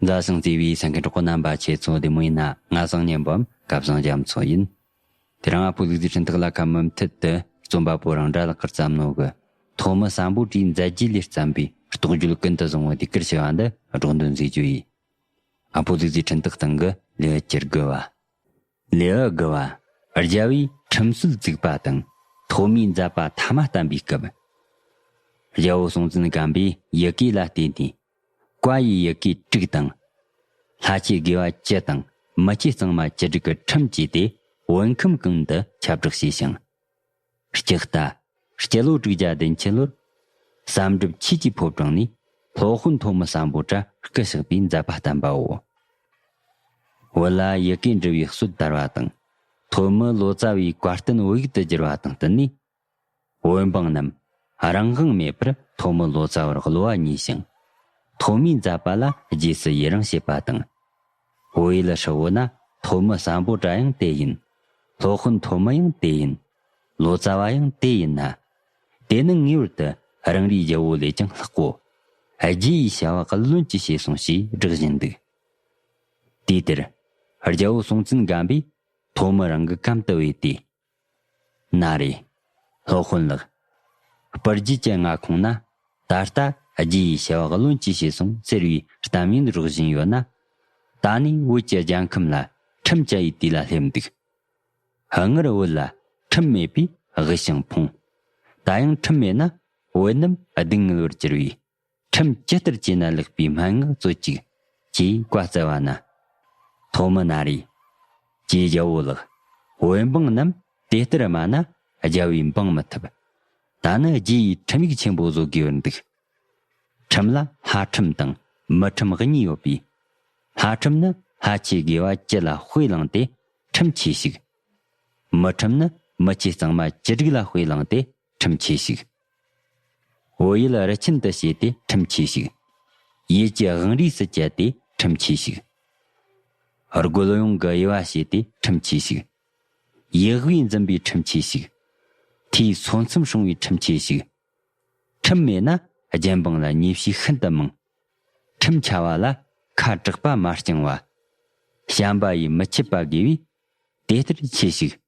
རྫ་བྱང་རྩེ་བའི་ས་མཁན་གྲོགས་པོ་རྣམ་པ་ཁྱེད་ཚོ་བདེ་མོ་ཡིན་ན་ང་བཟང་གཉེན་འབུམ་དགའ་བཟང་རྒྱ་མཚོ་ཡིན། དེ་རིང་ཨ་ཕོ་ལུག་རྫི་ཕྲེང་ཐག་ལ་ཁ་མུ་མཐུད་དུ་རྩོམ་པ་པོ་རང་འདྲ་ལག་ཁར་བརྩམས་ནོ་གི། ཐོག་མི་བསམ་པོ་བཀྲིས་མཛད་རྗེས་ལས་བརྩམས་པའི་རྟོགས་བརྗོད་ཀུན་ཏུ་བཟང་བོ་དེ་ཀིར་ཆེ་བ་འདི་སྒྲོག་འདོན་མཛད་རྒྱུ་ཡིན། ཨ་ཕོ་ལུག་རྫི་ཕྲེང་ཐག་སྟེང་གི་ལེའུ་བསྐྱུར་དགོས་བ། ལེའུ་དགུ་བ། རྒྱལ་བས་ཁྲིམས་སྲོལ་བཙུགས་པ་དང་ཐོག་མའི་མཛད་པ་ཐ་མ་བསྟན་པའི་སྐབས། རྒྱལ་པོ་སྲོང་བཙན་སྒམ་པོས་ཡི་གེ་ལ་བརྟེན་ནས་བཀའ་ཡི་ཡི་གེ་དཀྲུགས་དང། ལྷ་ཆོས་དགེ་བ་སྤྱི་དང་མི་སྤྱི་གཙང་མ་བཅུ་དྲུག་གི་ཁྲིམས་བཅས་ཏེ་བོད་ཁམས་གང་དུ་ཁྱབ་བསྒྲགས་བྱས་ཤིང། སྐྱི་རྟ། སྐྱི་ལོ་དྲུག་བརྒྱ་བདུན་ཁྱི་ལོར། བསམ་སྒྲུབ་ཁྱི་སྐྱིའི་ཕོབ་དྲངས་ནས། ལྷོ་ཧོན་ཐོག་མི་བསམ་པོ་བྲག་སྐུ་ཞགས་པའི་མཛད་པ་བསྟན་པའོ། བོད་ལ་ཡི་གེ་འབྲི་བའི་སྲོལ་དར་བ་དང། ཐོག་མི་ལོ་ཙཱ་བའི་བཀའ་བསྟན་དབྱུག་ཏུ་བསྒྱུར་བ་དང་བསྟུན་ནས། བོད་འབངས་རྣམས་རང་དབང་མེད་པར་ཐོག་མི་ལོ་ཙཱ་བར་གློ་བ་ཉེ་ཞིང། ཐོག་མའི་མཛད་པ་ལ་རྗེས་སུ་ཡི་རང་བྱེད་པ་དང། བོའི་ལ་ཧྲི་བོ་ན་ཐོ་མི་སམ་པོ་ཏྲ་ཡང་དེ་ཡིན། ལྷོ་དཔོན་ཐོ་མི་ཡང་དེ་ཡིན། ལོ་ཙཱ་བ་ཡང་དེ་ཡིན་ན། དེ་ནི་ངེས་བར་དུ་རང་རེའི་རྒྱལ་བོ་ལས་ཀྱང་ལྷག་གོ། རྗེ་ཡི་བྱ་བ་ཀུན་ལོན་གྱིས་བྱས་སོང་ཞེས་བསྒྲགས་བཞིན་འདུག། དུས་དེར། རྒྱལ་བོ་སྲོང་བཙན་སྒམ་པོས་ཐོ་མི་རང་གི་གམ་དུ་བས་ཏེ། ན་རེ། སློབ་དཔོན་ལགས། སྤར་རྒྱུད་ཀྱི་མངའ་ཁོངས་ན་ད་ལྟ་རྒྱུད་ཡི་ཤེས་བག་ལོན་གྱིས་བྱས་སོང་ཟེར་བའི་གཏམ་ཡོན་རོགས་བཞིན་ཡོད་ན། ད་ནི་བོད་ཀྱི་རྒྱལ་ཁམས་ལ་ཁྲིམས་བཅའ་ཡི་དུས་ལ་སླེབས་འདུག། སྔར་བོད་ལ་ཁྲིམས་མེད་པས་དབུལ་ཞིང་ཕོངས། ད་ཡང་ཁྲིམས་མེད་ན་བོད་རྣམས་སྡུག་བསྔལ་བར་གྱུར་བས་ཁྲིམས་ཇི་ལྟར་བྱས་ན་ལེགས་པའི་སྨྲེ་སྔགས་རྩོད་ཅིག། ཅེས་བཀའ་སྩལ་བ་ན། ཐོག་མི་ན་རེ། ཀྱེ་རྒྱལ་པོ་ལགས། བོད་འབངས་རྣམས་དེ་ལྟར་སྨྲ་ན་རྒྱལ་བས་འབངས་མི་ཐུབ། ད་ནི་རྒྱའི་ཁྲིམས་ཡིག་ཆེན་པོ་བཟོ་དགོས་པར་འདུག། ཁྲིམས་ལ་ལྷ་ཁྲིམས་དང་མི་ཁྲིམས་གཉིས་ཡོད་པས། ལྷ་ཁྲིམས་ནི་ལྷ་ཆོས་དགེ་བ་སྤྱི་ལ་དཔེ་བླངས་ཏེ་ཁྲིམས་ཆེ་ཞིག། མི་ཁྲིམས་ནི་མི་ཆོས་གཙང་མ་ཅི་རིགས་ལ་དཔེ་བླངས་ཏེ་ཁྲིམས་ཆད་ཞིག། བོད་ཡུལ་རི་ཁྱིམ་དུ་བྱས་ཏེ་ཁྲིམས་ཆད་ཞིག། ཡུལ་གྱི་དབང་རིས་སུ་བསྐྱལ་ཏེ་ཁྲིམས་ཆད་ཞིག། རྒོལ་དབྱུང་གི་དབྱེ་བ་བྱས་ཏེ་ཁྲིམས་ཆད་ཞིག། ཡིད་དབུས་འཛིན་པའི་ཁྲིམས་ཆད་ཞིག། འཐུས་ཚོགས་མཚམས་སྲུང་བའི་ཁྲིམས་ཆད་ཞིག། ཁྲིམས་མེད་ན་རྒྱལ་འབངས་ལ་ཉེས་བྱས་ཤིན་ཏུ་མང། ཁྲིམས་འཆའ་བ་ལ་ཁ་དྲག་པ་མ་བསྐྱང་བ། བྱམས་པ་ཡིས་མི་ཆད་པ་དགེ་བས་དེ་ལྟར་ཆད་ཞིག།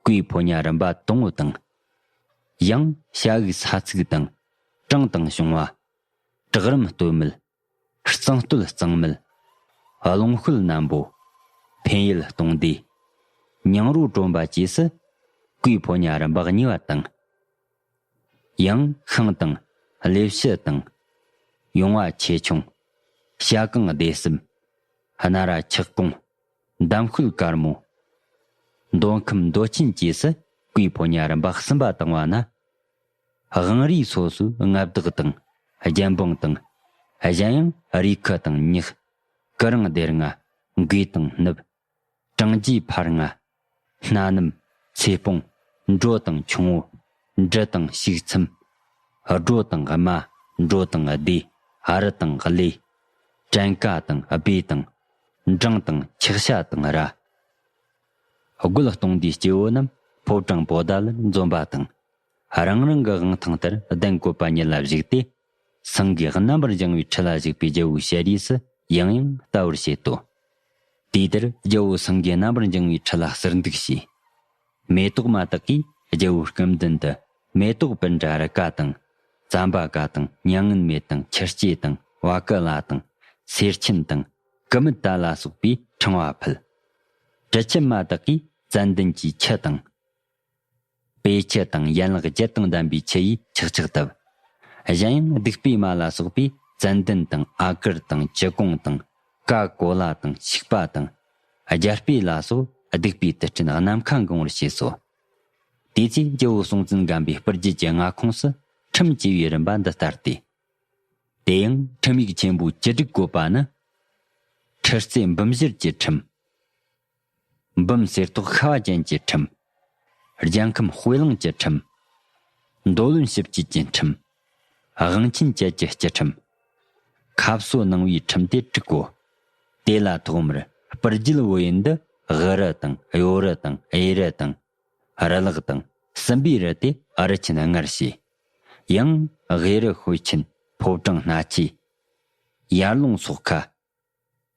སྐུའི་ཕོ་ཉ་རིམ་པ་དང་བོ་དང། ཡང་བྱ་དབུགས་ས་ཚུགས་དང། གྲངས་དང་བྱུང་བ། བྲག་རིམ་སྟོད་མལ། གཙང་སྟོད་གཙང་མལ། རླུང་ཤུལ་སྣམ་པོ། འཕན་ཡུལ་སྟོང་སྡེ། ཉང་རུ་གྲོམ་པ་བཅས་སུ། སྐུའི་ཕོ་ཉ་རིམ་པ་གཉིས་པ་དང། ཡང་ཤིང་དང། ལེབ་བྱི་དང། ཡོང་བ་ཆེ་ཆུང། བྱ་རྐང་སྡེ་གསུམ། སྣ་ར་ཆག་གོང། འདམ་སྐུད་དཀར་མོ། མདོ་ཁམས་མདོ་སྐྱིན་བཅས་སུ་སྐུའི་ཕོ་ཉར་རིམ་པ་གསུམ་པ་བཏང་བ་ན། དབང་རིས་སོ་སོའི་མངའ་བདག་དང་རྒྱལ་འབངས་དང། གཞན་ཡང་རིས་ཁུ་དང་ཉག། སྐུ་རིང་སྡེར་ལྔ། འགོས་དང་སྣུབས། གྲངས་རྒྱས་འཕར་ལྔ། སྣ་ནུབ། ཚེ་སྤོང། འགྲོ་དང་ཆུང་བོ། འབྲི་དང་ཞུགས་མཚམས། སྒྲོ་དང་རྨ། འགྲོ་དང་བདེ། ཨ་རི་དང་ཨ་ལེ། བྲན་ཀ་དང་ཨ་པེ་དང། འབྲང་དང་འཁྱག་ཤ་དང་ར། རྒོད་སྟོང་འདིའི་སྐྱེ་བོ་རྣམས་ཕོ་བྲང་པོ་དལ་འཛོམས་པ་དང། རང་རང་གི་དབང་ཐང་ལྟར་གདན་བཀོད་པ་ཉིད་ལ་གཞིགས་ཏེ། སེང་གེས་རྣམ་པར་བྱང་བའི་ཁྲི་ལ་བཞུགས་པའི་རྒྱལ་པོའི་ཞལ་རས་སུ་ཡང་ཡང་བལྟ་བར་བྱེད་དོ། དུས་དེར་རྒྱལ་པོ་སེང་གེས་རྣམ་པར་འགྱིང་བའི་ཁྲི་ལ་གསེར་འདུག་བྱས། མེ་ཏོག་མ་དག་གིས་རྒྱལ་པོའི་སྐམ་མདུན་དུ་མེ་ཏོག་པད་འདྲ་རི་ཀ་དང། ཙམ་པ་ཀ་དང་མྱ་ངན་མེད་དང་ཁྱི་སྐྱེས་དང་བ་ཀི་ལ་དང། སེར་ཆེན་དང། ཀི་མི་ཏཱ་ལ་སོགས་པའི་ཕྲེང་བ་ཕུལ། དྲི་ཆུ་མ་དག་གིས་ཙན་དན་གྱི་ཁྱི་དང། པའི་ཁྱི་དང་ཡན་ལག་བརྒྱད་དང་ལྡན་པའི་ཁྱི་ཡིས་ཆག་ཆག་བཏབ། གཞན་ཡང་སྡིག་པའི་མ་ལ་སོགས་པས་ཙན་དན་དང་ཨ་ཀིར་དང་ཅི་ཀོང་དང་ཀ་ཀོ་ལ་དང་ཤིག་པ་དང། རྒྱལ་སྤོས་ལ་སོགས་སྡིག་པའི་དུད་སྤྲིན་ནམ་མཁའ་འགང་བར་བྱས་སོ། དེ་ཚེ་རྒྱལ་པོ་སྲོང་བཙན་སྒམ་པོའི་སྤུར་རྒྱལ་གྱི་མངའ་ཁོངས་སུ་ཁྲིམས་བཅས་པའི་རིམ་པ་འདི་ལྟར་ཏེ། དེ་ཡང་ཁྲིམས་ཡིག་ཆེན་པོའི་སྤྱི་སྒྲིག་བཀོད་པ་ནི། ཁྲི་རྩེ་འབུམ་བཞིར་གྱི་ཁྲིམས། འབུམ་གསེར་ཏོག་ཤ་བ་ཅན་གྱི་ཁྲིམས། རྒྱལ་ཁམས་དཔེ་བླངས་ཀྱི་ཁྲིམས། མདོ་བློན་ཞིབ་དཔྱོད་ཀྱི་ཁྲིམས། དབང་ཆེན་བཅས་ཀྱི་སྤྱི་ཁྲིམས། ཁ་བསོ་གནང་བའི་ཁྲིམས་དེ་དྲུག་གོ། དེ་ལ་ཐོག་མར་སྤུར་རྒྱུད་དབུ་ཡི་འདི་དབུ་རུ་དང་གཡོ་རུ་དང་གཡས་རུ་དང། རུ་ལག་དང་སྲིན་པོའི་རུ་དེ་ཨ་རུ་ཆེན་སྔར་བྱས། ཡང་དབྱི་རུ་ཤོད་ཆེན་ཕོ་བྲང་སྣ་ཆའི། ཡར་ལུང་སོགས་ཁ།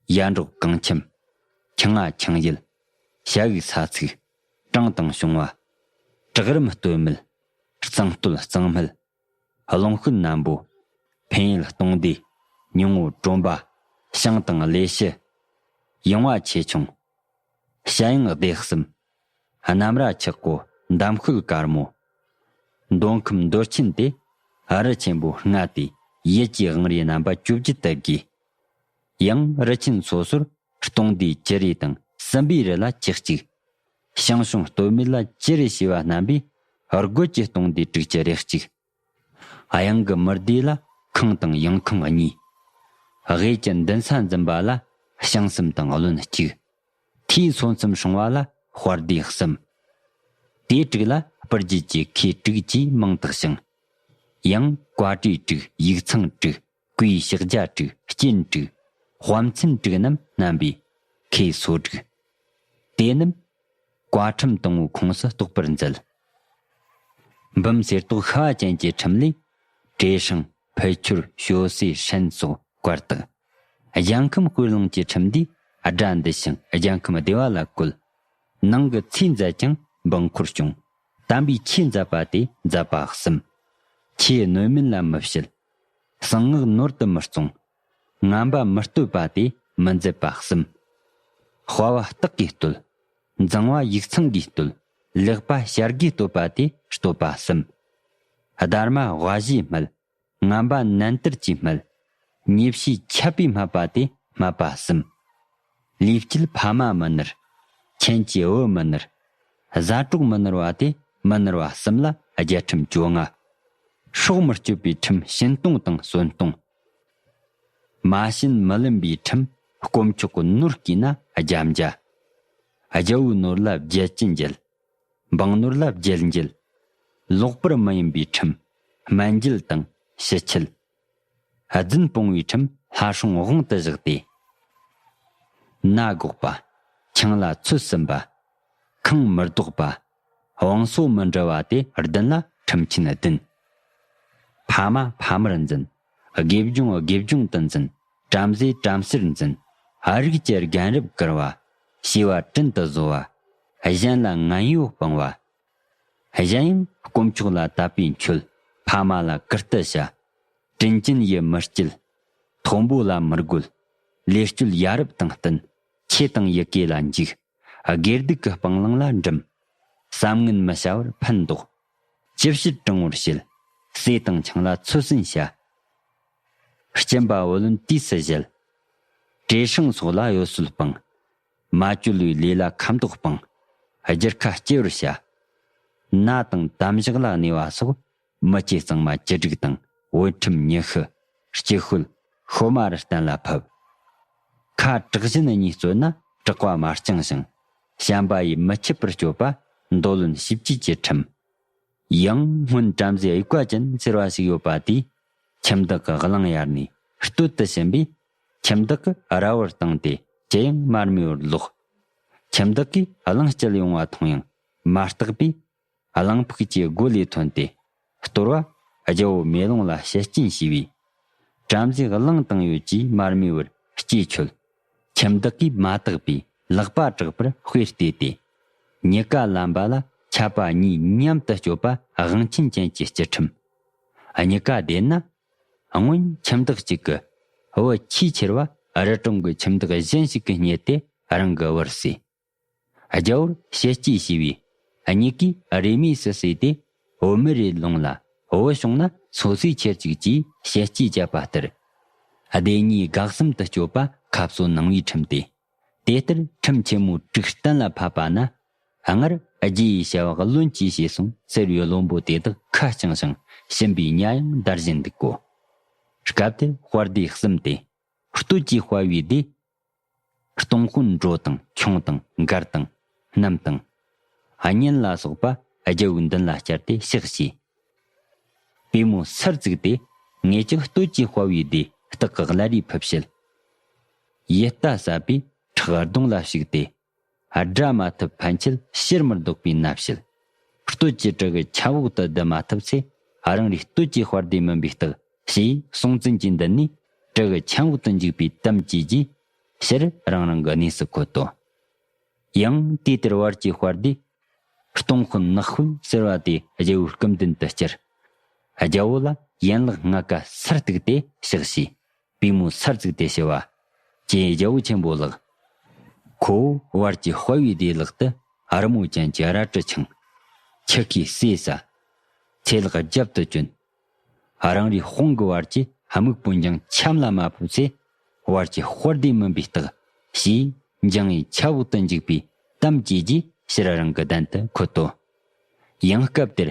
ཡར་འབྲོག་རྐང་ཁྱིམ། ཁྱི་རྔ་ཁྱང་ཡུལ། བྱ་འུག་ས་ཚིགས། བྲང་དང་ཤོང་བ། བྲག་རིམ་སྟོད་སྨད། གཙང་སྟོད་གཙང་སྨད། ཀློང་ཤུན་སྣམ་པོ། འཕན་ཡུལ་སྟོང་སྡེ། ཉུང་ངུ་གྲོམ་པ། ཤང་དང་གླེ་ཤི། ཡིང་བ་ཆེ་ཆུང། བྱ་གཡང་སྡེ་གསུམ། རྣམ་ར་འཁྱག་པོ་འདམ་ཤུལ་དཀར་མོ། མདོ་ཁམས་མདོ་ཆེན་ཏེ། ཨ་རི་ཆེན་པོའི་རྔ་དེ་ཡུལ་གྱི་དབང་རིའི་རྣམ་པ་བཅུ་བརྒྱུད་དེབ་དགེ་ཡང་རི་ཆེན་སོ་སོར་སྟོང་སྡེའི་སྐྱི་རེ་དང་སྲིན་པོའི་རི་ལ་སྐྱི་གཅིག། ཞང་ཞུང་སྟོད་མི་ལ་སྐྱི་རེ་ཞེས་པ་རྣམ་པས་རྒོད་ཀྱི་སྟོང་སྡེའི་དྲུག་སྐྱི་རེ་གཅིག། གཡང་གི་མུར་སྡེ་ལ་ཁང་དང་ཡང་ཁང་གཉིས། གཡས་ཀྱི་མདུན་ས་འཛིན་པ་ལ་ཞང་གསུམ་དང་བློན་གཅིག། མཐའི་སོ་མཚམས་སྲུང་བ་ལ་དཔར་སྡེ་གསུམ། དེའི་དྲུག་ལ་སྤུར་རྒྱལ་གྱི་ཁའི་དྲུག་ཅེས་མིང་བཏགས་ཤིང། ཡང་བཀའ་གྲོས་དྲུག་ཡིག་ཚང་དྲུག། གོས་ཕྱག་རྒྱ་དྲུག་སྐྱིན་དྲུག། དཔའ་མཚན་དྲུག་རྣམས་བསྣམས་པའི། ཁའི་སོ་དྲུག། དེ་རྣམས། བཀའ་ཁྲིམས་དང་བོའི་ཁོངས་སུ་གཏོགས་པར་མཛད། འབུམ་གསེར་ཏོག་ཤ་བ་ཅན་གྱི་ཁྲིམས་ལས། བྲེ་ཧྲང། ཕུད་ཁྱུར། ཞོ་སེ་ཧྲན་སོགས་བཀར་བཏགས། གཞང་ཁམས་སྐོར་ལུང་གི་ཁྲིམས་འདིས་དགྲ་འདུལ་ཞིང་གཞང་ཁམས་བདེ་བ་ལ་བཀོད། ནང་གི་ཚེ་མཛད་ཀྱང་འབངས་འཁོར་སྐྱོང། དམ་པའི་ཆོས་མཛད་པ་དེ་མཛད་པ་གསུམ། ཆོས་གནོད་མིན་ལ་མི་བྱེད། གསང་སྔགས་ནོར་དུ་མི་གཏོང། རྔམ་པ་མི་བསྟོད་པ་དེ་མི་མཛད་པ་གསུམ། དཔའ་བ་སྟག་གིས་བསྟོད། འཛིང་བ་ཡིག་ཚང་གིས་བསྟོད། ལེགས་པ་བྱ་དགའི་བསྟོད་པ་དེ་བསྟོད་པ་གསུམ། སྡར་མ་དབའ་བཞིའི་སྨད། རྔམ་པ་ནན་ཏིར་གྱི་སྨད། ཉེས་བྱས་ཁྱབ་པའི་སྨད་པ་དེ་སྨད་པ་གསུམ། ལུས་དཀྱིལ་ཕ་མ་མི་ནུར། མཁྱེན་བརྩེ་བུ་མི་ནུར། གཟའ་གྲོགས་མི་ནུར་བ་སྟེ་མི་ནུར་བ་གསུམ་ལ་རྒྱལ་ཁྲིམས་བཅོ་ལྔ། ཕྱོགས་མི་སྐྱོད་པའི་ཁྲིམས་བྱིན་སྟོང་དང་གསོན་སྟོང། མ་བྱིན་མི་ལེན་པའི་ཁྲིམས་དཀོན་མཆོག་གི་ནོར་བསྐྱིས་ན་རྒྱབ་འཇའ། རྒྱལ་བོའི་ནོར་ལ་རྒྱལ་གྱི་འགྱེལ། འབངས་ནོར་ལ་རྒྱལ་འགྱེལ། ལོག་པར་མི་ཡིན་པའི་ཁྲིམས་སྨན་འགྱེལ་དང་ཞི་འཁྱིལ། རྫུན་སྤོང་བའི་ཁྲིམས་ལྷ་སྲུང་དབང་དུ་བཞག་སྟེ། ན་སྒོག་པ། ཆང་ལ་ཚོད་ཟིན་པ། ཁང་མི་ལྡོག་པ། བང་སོ་མི་འབྲི་བ་དེ་བདུན་ལ་ཁྲིམས་ཆེན་བདུན། ཕ་མ་ཕ་མར་འཛིན། དགེ་སྦྱོང་དགེ་སྦྱོང་དུ་འཛིན། བྲམ་ཟེ་བྲམ་ཟེར་འཛིན། རིགས་ཀྱི་རྒན་རབས་བཀུར་བ། བྱིས་པ་དྲིན་དུ་བཟོ་བ། གཞན་ལ་ངན་གཡོ་སྤང་བ། གཞན་ཡང་དཀོན་མཆོག་ལ་དད་པས་མཆོད། ཕ་མ་ལ་བཀུར་སྟི་བྱ། དྲིན་ཅན་ཡིད་མི་བསྐྱིད། མཐོན་པོ་ལ་མི་རྒོལ། ལས་སྤྱོད་ཡ་རབས་དང་བསྟུན། ཆོས་དང་ཡི་གེ་ལ་འཇུག། སྒེར་སྡུག་གི་སྤང་བླང་ལ་འགྲིམ། བསམ་ངན་མི་བྱ་བར་ཕན་འདོགས། ཅི་བྱེད་དྲང་བོར་བྱེད། སྲས་དང་ཆང་ལ་ཚོད་ཟིན་བྱ། སྐྱིན་པ་བུ་ལོན་དུས་སུ་བཞེས། བྲེ་ཧྲེང་སོགས་ལ་གཡོ་ཟོལ་སྤང། མ་བཅོལ་བའི་ལས་ལ་ཁ་མདོག་སྤང། སྒྱུར་ཁ་སྐྱེ་བར་བྱ། སྣ་དང་དམ་བཞག་ལ་གནས་པ་སོགས། མི་སྐྱེ་གཙང་མ་བཅུ་དྲུག་དང་བུ་ཁྲིམས་ཉི་ཤུ། སྐྱི་ཤོད་ཤོ་མ་རུ་གཏན་ལ་ཕབ། ཁ་དྲག་བཞིན་གཉིས་བརྩོད་ན་དྲག་པ་མ་བསྐྱང་ཞིང། བྱམས་པ་ཡིས་མི་ཁྱིད་པར་སྤྱོད་པ། མདོ་ལོན་ཞིབ་བྱེད་ཀྱི་ཁྲིམས། ཡང་སྔོན་བྲམ་ཟེ་དབྱུག་པ་ཅན་ཟེར་བ་ཞིག་ཡོད་པ་དེས་ཁྱིམ་བདག་གི་གླིང་གཡར་ནས་སྟོད་དུ་ཕྱིན་པས། ཁྱིམ་བདག་གིས་ར་བར་བཏང་སྟེ་ཇི་ཡང་མར་མེ་བར་བསློགས། ཁྱིམ་བདག་གིས་གླིང་སྐྱེལ་ཡོང་བ་མཐོང་ཡང་མ་བརྟགས་པས། གླིང་ཕུག་ཅེས་སྒོ་ལས་ཐོན་ཏེ་གཏོར་བ། རྒྱལ་བོ་མེ་ལོང་ལ་ཤེད་རྐྱེན་བྱས་པས། བྲམ་ཟེ་གླིང་བཏང་ཡོད་ཀྱིས་མར་མེ་བར་སྐྱེས་ཆོད། ཁྱིམ་བདག་གིས་མ་བརྟགས་པའི་ལག་པ་དྲག་པར་དཔེར་བལྟས་ཏེ། ཉི་དགའ་ལམ་པ་ལ་ཁྱབ་པ་གཉིས་མཉམ་དུ་སྤྱོད་པ་དབང་ཆེན་ཅན་གྱི་སྤྱི་ཁྲིམས། ཉི་དགའ་བདེ་ན། སྔོན་ཁྱིམ་བདག་གཅིག་གི་བུ་ཆེས་ཆེར་བ་རི་གྲོང་གི་ཁྱིམ་བདག་གཞན་ཞིག་གིས་རྙེད་དེ་རང་གི་བུར་བསྲེས། རྒྱལ་པོར་ཞལ་གཅེས་ཞུས་པས། གཉིས་ཀས་རེས་མོས་སུ་བསྲེས་ཏེ། བོད་མི་རེ་ལོངས་ལ་བོད་བྱུང་ན་ཚོ་ཚིས་ཁྱེར་ཅིག་ཅེས་ཞལ་གཅེས་བཅབས་པ་ལྟར། སྡེ་གཉིས་དགག་གསུམ་དུ་སྐྱོད་པ་ཁ་གསོ་གནང་བའི་ཁྲིམས་ཏེ། དེ་ལྟར་ཁྲིམས་ཆེན་མོ་དཀྲུགས་གཏན་ལ་ཕབ་པ་ན། སྔར་རྗེ་ཡི་ཞལ་བག་བློན་གྱིས་བྱས་སོང་ཟེར་བའི་བློན་པོ་དེ་དག་ཁ་བསྐྱངས་ཤིང་ཕྱིན་པའི་གཉའ་ཡང་བདར་བཞིན་འདུག་གོ། སྐབས་དེར་དཔར་སྡེ་གསུམ་སྟེ། སྟོད་ཀྱི་དཔའ་བོའི་སྡེ། སྟོང་སྐུ་འགྲོ་དང་ཁྱུང་དང་མགར་དང་གནམ་དང། གཉན་ལ་སོགས་པ་རྒྱལ་བུ་མདུན་ལ་བསྐྱལ་ཏེ་གཤེགས་ཤིག། པུས་མོ་སར་བཙུགས་ཏེ་ངེས་ཀྱི་སྟོད་ཀྱི་དཔའ་བོའི་སྡེ་སྟག་གི་བླ་རེའི་ཕུབ་བྱེད། ཡིད་ལྟ་ཟབ་པའི་ཁྲག་རྡུང་ལ་ཞུགས་ཏེ། བསྒྲལ་མ་ཐུབ་ཕན་ཆད་ཕྱིར་མི་ལྡོག་པའི་མནའ་བྱེད། སྟོད་ཀྱི་བྲག་གི་ཁྱབ་འོག་ཏུ་བསྡུ་མ་ཐུབ་ཚེ་རང་རེའི་སྟོད་ཀྱི་དཔར་སྡེ་མིན་པའི་རྟགས་ཞེས་སྲོང་བཙན་གྱིས་འདི་ནས་བྲག་གི་ཁྱམས་འོག་ཏུ་འཇུག་པའི་གཏམ་བསྐྱེལ་རྗེས་ཕྱིར་རང་རང་གི་གནས་སུ་འཁོད་དོ། ཡང་དུས་དེར་བར་གྱི་དཔར་སྡེ། སྟོང་ཤོན་ནག་ཤོན་ཟེར་བ་དེ་རྒྱལ་བོའི་སྐུ་མདུན་དུ་བསྐྱལ། རྒྱལ་བོ་ལ་ཡན་ལག་ལྔ་ཀ་སར་གཏུགས་ཏེ་གཤེགས་ཞེས་པུས་མོ་སར་བཙུགས་ཏེ་བྱེ་བ། ཅན་རྒྱལ་པོ་ཆེན་པོ་ལགས། ཁོ་བོ་བར་གྱི་དཔའ་བོའི་བདེ་ལག་ཏུ། རི་མོ་ཅན་གྱི་རལ་གྲི་འཆང། ཁྱི་ཁའི་སྲས་སྲ། ཚེ་ལག་རྒྱབ་ཏུ་བཅོན། རང་རེའི་དཔུང་གི་བར་གྱི་དམིགས་པོ་འགྱིང་འཆམ་ལ་མ་ཕོབ་ཚེ། བར་གྱི་དཔའ་བདེ་མིན་པའི་རྟགས། ཞེས་འགྱིང་བའི་ཆབ་འོག་ཏུ་འཇུག་པའི་གཏམ་བྱས་རྗེས་ཕྱིར་རང་གི་གདན་དུ་འཁོད་དོ། ཡང་སྐབས་དེར།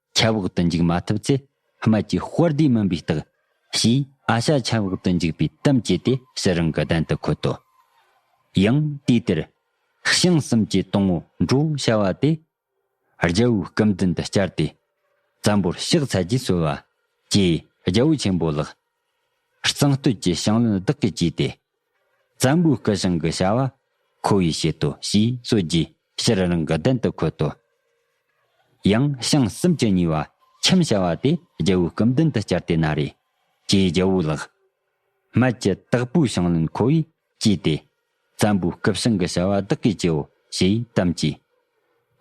ཆབ་འོག་ཏུ་འཇུག་མ་ཐུབ་ཚེ་སྨད་ཀྱི་དཔར་ལྡེའི་མུན་པའི་རྟགས། ཞེས་ཨ་ཤྭ་ཆབ་འོག་ཏུ་འཇུག་པའི་གཏམ་བཅས་ཏེ་ཕྱི་རང་གི་གདན་དུ་འཁོད་དོ། ཡང་དུས་དེར། ཞང་གསུམ་གྱི་སྟོང་བུ་འགྲོ་བྱ་བ་དེ། རྒྱལ་བོའི་སྐུ་མདུན་དུ་བསྐྱལ་ཏེ། བཙན་པོར་གཤེགས་ཚར་རྗེས་གསོལ་བ། ཅེས་རྒྱལ་པོ་ཆེན་པོ་ལགས། གཙང་སྟོད་ཀྱི་ཞིང་བློན་བདག་གིས་བགྱིས་ཏེ། བཙན་པོའི་སྐུ་བྱང་གི་བྱ་བ་ཁོ་བོས་བྱེད་དོ་ཞེས་གསོལ་རྗེས་ཕྱིར་རང་གི་གདན་དུ་འཁོད་དོ། ཡང་བྱང་གསུམ་གྱི་ཉེ་བ་ཁྱིམ་བྱ་བ་དེ་རྒྱལ་བོའི་སྐུ་མདུན་དུ་བསྐྱལ་ཏེ་ན་རེ། ཀྱེ་རྒྱལ་བོ་ལགས། སྨད་ཀྱི་སྟག་པོའི་ཞིང་བློན་ཁོ་བོས་བགྱིས་ཏེ། བཙན་པོའི་སྐུ་བྱང་གི་བྱ་བ་བདག་གིས་བགྱིའོ་ཞེས་གཏམ་བགྱིས།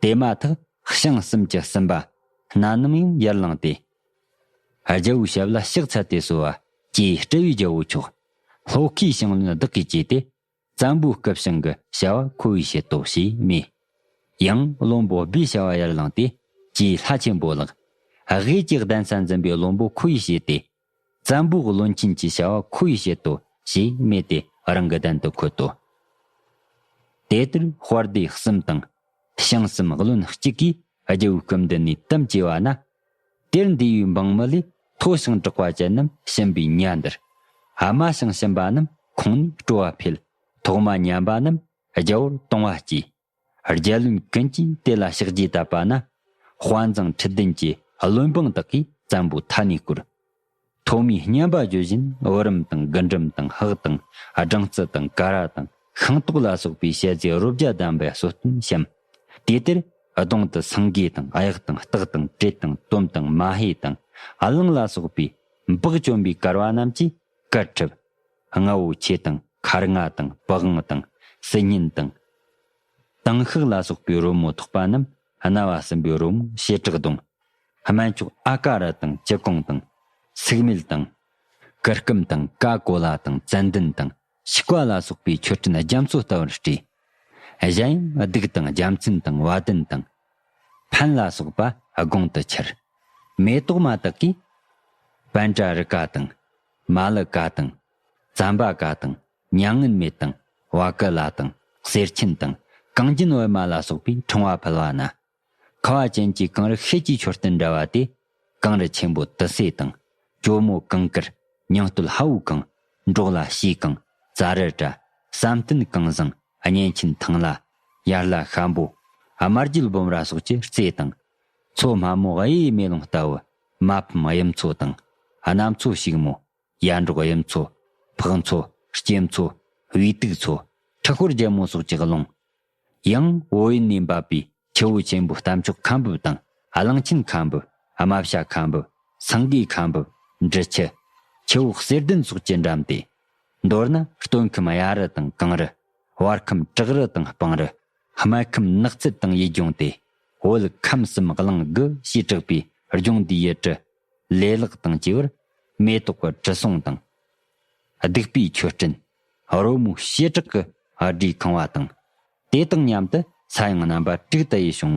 དེ་མ་ཐག་བྱང་གསུམ་གྱི་སུམ་པ་སྣ་ནམ་ཡང་ཡར་ལངས་ཏེ། རྒྱལ་པོའི་ཞབས་ལ་ཕྱག་འཚལ་ཏེ་གསོལ་བ། ཀྱེ་སྤྲེལ་བའི་རྒྱལ་པོ་ཁྱོད། ལྷོ་ཁའི་ཞིང་བློན་བདག་གིས་བཅས་ཏེ། བཙན་པོའི་སྐུ་བྱིང་གི་བྱ་བ་ཁོ་བོས་བྱེད་དོ་ཞེས་སྨྲས། ཡང་བློན་པོ་སྦས་བྱ་བ་ཡར་བླངས་ཏེ། ཀྱེ་ལྷ་ཆེན་པོ་ལགས། དབྱིག་གི་གདན་ས་འཛིན་པའི་བློན་པོ་ཁོ་བོས་བྱས་ཏེ། བཙན་པོའི་བློན་ཆེན་གྱི་བྱ་བ་ཁོ་བོས་བྱེད་དོ་ཞེས་སྨྲས་ཏེ་རང་གི་གདན་དུ་འཁོད་དོ། དེ་ལྟར་དཔའ་སྡེ་གསུམ་དང། བྱང་སེམས་བློན་གཅིག་གིས་རྒྱལ་པོའི་སྐུ་མདུན་ནས་གཏམ་བྱས་པ་ན་དེར་འདུས་པའི་འབངས་མི་ལས་མཐོ་ཞིང་གྲགས་པ་ཅན་རྣམས་ཞེན་པའི་གཉའ་འདར། དམའ་ཞིང་ཞེན་པ་རྣམས་ཁོང་ནས་སྤྲོ་བ་འཕེལ། ཐོག་མ་ཉམས་པ་རྣམས་རྒྱལ་བོར་གཏོང་བ་སྐྱེ། རྒྱལ་བློན་ཀུན་གྱིས་དེ་ལ་ཕྱག་རྗེས་བཏབ་པ་ན། དཔའ་མཛངས་ཁྲི་བདུན་གྱི་བློན་འབངས་དག་གིས་བཙན་པོ་མཐའ་ནས་བཀུར། ཐོག་མའི་སྙན་པ་བརྗོད་བཞིན་བུ་རམ་དང་རྒུན་འབྲུམ་དང་ཧག་དང་སྦྲང་རྩི་དང་ཀ་ར་དང་ཤིང་ཏོག་ལ་སོགས་པའི་བཤད་རྫས་རོ་བརྒྱ་བསྡམས་པའི་གསོལ་སྟོན་བཤམ། དེ་དེར་གདོང་དུ་སེང་གེ་དང་གཡག་དང་སྟག་དང་དྲེད་དང་དོམ་དང་མ་ཧེ་དང་གླང་ལ་སོགས་པའི་བག་བཅོམ་པའི་གར་བ་རྣམས་ཀྱིས་གར་འཁྲབ། རྔ་བོ་ཆེ་དང་མཁར་རྔ་དང་བུ་དབང་དང་སྲི་སྙན་དང། དང་ཤགས་ལ་སོགས་པའི་རོལ་མོ་ཐོགས་པ་རྣམས་རྣ་བ་སྲིན་པོའི་རོལ་མོ་བྱེ་བྲག་གདོང། སྨན་ཆུ་ཨ་ཀ་ར་དང་སྤྱི་གོང་དང། སུག་སྨེལ་དང། ཀི་སྐུམ་དང་ཀ་ཀོ་ལ་དང་ཙན་ལྡན་དང་ཕྱུགས་བ་ལ་སོགས་པའི་མཆོད་སྤྲིན་རྒྱ་མཚོ་ལྟ་བུར་སྤྲས། གཞན་ཡང་བདུག་དང་རྒྱ་མཚན་དང་བ་དན་དང། ཕན་ལ་སོགས་པ་དགོངས་དུ་འཁྱེར། མེ་ཏོག་མ་དག་གིས། པན་ཏྲ་རི་ཀ་དང། མ་ལི་ཀ་དང། ཙམ་པ་ཀ་དང། མྱ་ངན་མེད་དང། བ་ཀི་ལ་དང། གསེར་ཆེན་དང། གངས་རྒྱན་བི་མ་ལ་སོགས་པའི་འཕྲེང་བ་ཕུལ་བ་ན། ཁ་བ་ཅན་གྱི་གངས་རི་ཤེལ་གྱི་མཆོད་རྟེན་འདྲ་བ་སྟེ། གངས་རི་ཆེན་པོ་དུ་སེ་དང། གྱོ་མོ་གངས་དཀར། ཉིང་སྟོད་ཧ་བུ་གངས། འབྲོག་ལ་བྱའི་གངས། རྩྭ་རི་བཀྲ། བསམ་གཏན་གངས་བཟང། གཉན་ཆེན་ཐང་ལ། ཡར་ལ་ཤམ་པོ། དམར་རྒྱུད་སྦོམ་ར་སོགས་ཀྱི་རྩེ་དང། མཚོ་སྨྲ་མོ་གཡས་མེ་ལོང་ལྟ་བུ། མ་ཕམ་དབྱིབས་མཚོ་དང། གནམ་མཚོ་ཞིག་མོ། ཡར་འབྲོག་དབྱིབས་མཚོ། ཕག་མཚོ། སྐྱེམས་མཚོ། དབུས་དུག་མཚོ། ཁྲི་ཤོར་རྒྱལ་མོ་སོགས་ཀྱི་ཀློང། ཡང་བོད་ཡུལ་ནས་འབབ་པའི་ཆུ་བོ་ཆེན་པོ་རྟ་མཆོག་ཁམ་འབུབས་དང་གླང་ཆེན་ཁམ་འབུབས། རྨ་བྱ་ཁམ་འབུབས། སངས་རྒྱས་ཁམ་འབུབས། འབྲི་ཆུ། ཆུ་བོ་གསེར་ལྡན་སོགས་ཀྱི་འགྲམ་སྟེ། མདོར་ན་སྟོད་ཁམས་གཡའ་རི་དང་གངས་རི། བར་ཁམས་བྲག་རི་དང་སྤང་རི། སྨད་ཁམས་ནགས་ཚལ་དང་ཡུལ་ལྗོངས་ཏེ། བོད་ཁམས་གསུམ་གླིང་དགུ་ཞེས་གྲགས་པའི་ལྗོངས་འདིའི་ཡུལ་གྲུ། ལེ་ལག་དང་བཅས་པར། མེ་ཏོག་གི་དྲི་བསུང་དང། བདུག་པའི་མཆོད་སྤྲིན། རོལ་མོའི་བྱེ་བྲག་གི་སྒྲའི་ཁང་བ་དང། དེ་དང་མཉམ་དུ་ས་ཡང་རྣམ་པ་དྲུག་ཏུ་དབྱེ་ཞིང།